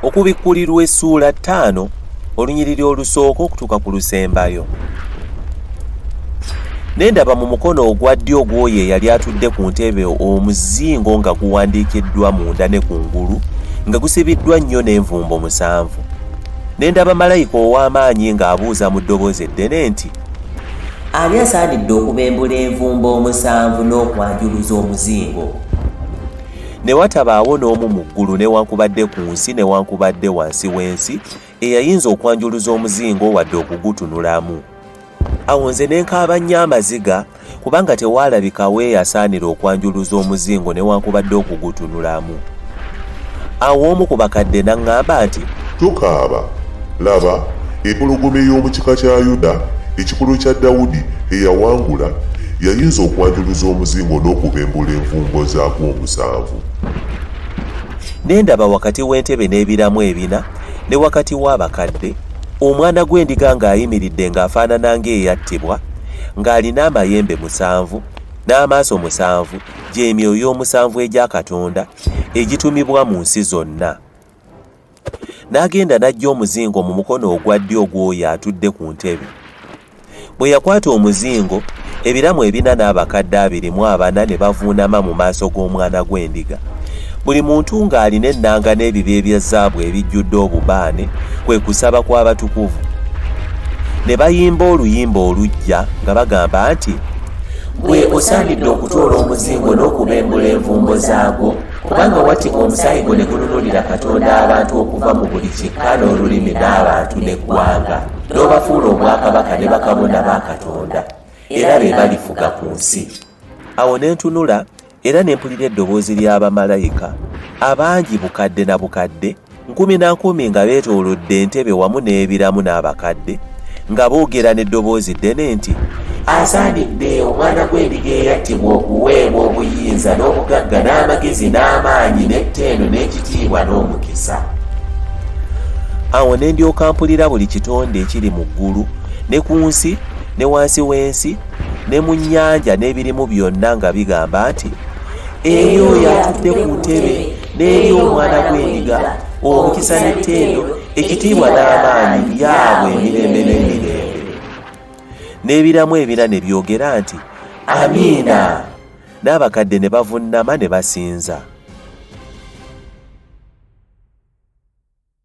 okubikkulirwa essuula ttaano olunyiriri olusooka okutuuka ku lusembayo ne ndaba mu mukono ogwa ddyo ogw'oyo eyali atudde ku ntebe omuzingo nga guwandiikiddwa munda ne kungulu nga gusibiddwa nnyo n'envumbo musanvu ne ndaba malayika ow'amaanyi ng'abuuza mu ddoboozi eddene nti ani asaanidde okubembula envumba omusanvu n'okwanjuluza omuzingo ne watabaawo n'omu mu ggulu newankubadde ku nsi newankubadde wansi w'ensi eyayinza okwanjuluza omuzingo wadde okugutunulamu awo nze ne nkaaba nnyo amaziga kubanga tewaalabika weeyasaanira okwanjuluza omuzingo newankubadde okugutunulamu. Awo omu ku bakadde n'aŋŋamba nti. Tokaaba! Laba, empologoma ey'omu kika kya Yuda, ekikolo kya Dawudi, eyawangula, yayinza okwanjuluza omuzingo n'okubembula envumbo zaagwo omusanvu. Ne ndaba wakati w'entebe n'ebiramu ebina, ne wakati w'abakadde, Omwana gw'endiga ng'ayimiridde ng'afaanana ng'eyattibwa, ng'alina amayembe musanvu n'amaaso musanvu gy'emyoyo omusanvu egya katonda egitumibwa mu nsi zonna n'agenda n'ajja omuzingo mu mukono ogwa ddyo ogw'oyo atudde ku ntebe bwe yakwata omuzingo ebiramu ebina n'abakadde abiri mu abana ne bavuunama mu maaso g'omwana gw'endiga Buli muntu ng'alina ennanga n'ebiba ebya zaabu ebijjudde obubaane, kwe kusaba kw'abatukuvu. Ne bayimba oluyimba oluggya nga bagamba nti. Ggwe osaanidde okutoola omuzingo n'okubembula envumbo zaagwo, kubanga wattibwa omusaayi gwo ne gununulira Katonda abantu okuva mu buli kika n'olulimi n'abantu n'eggwanga, n'obafuula obwakabaka ne bakabona ba Katonda, era be balifuga ku nsi. Awo ne ntunula. era ne mpulira eddoboozi lya bamalayika abangi bukadde na bukadde nkumi na nkumi nga beetoolodde entebe wamu n'ebiramu n'abakadde nga boogera n'eddoboozi ddene nti asaanidde omwana gw'endiga eyattibwa okuweebwa obuyinza n'obugagga n'amagezi n'amaanyi n'ettendo n'ekitiibwa n'omukisa awo ne ndyoka mpulira buli kitonde ekiri mu ggulu ne ku nsi ne wansi w'ensi ne mu nnyanja n'ebirimu byonna nga bigamba nti eyo yatudde ku ntebe n'eri omwana gw'endiga omukisa n'ettendo ekitiibwa n'amaanyi yaabwe emirembe n'emirembe n'ebiramu ebina ne byogera nti amiina n'abakadde ne bavunnama ne basinza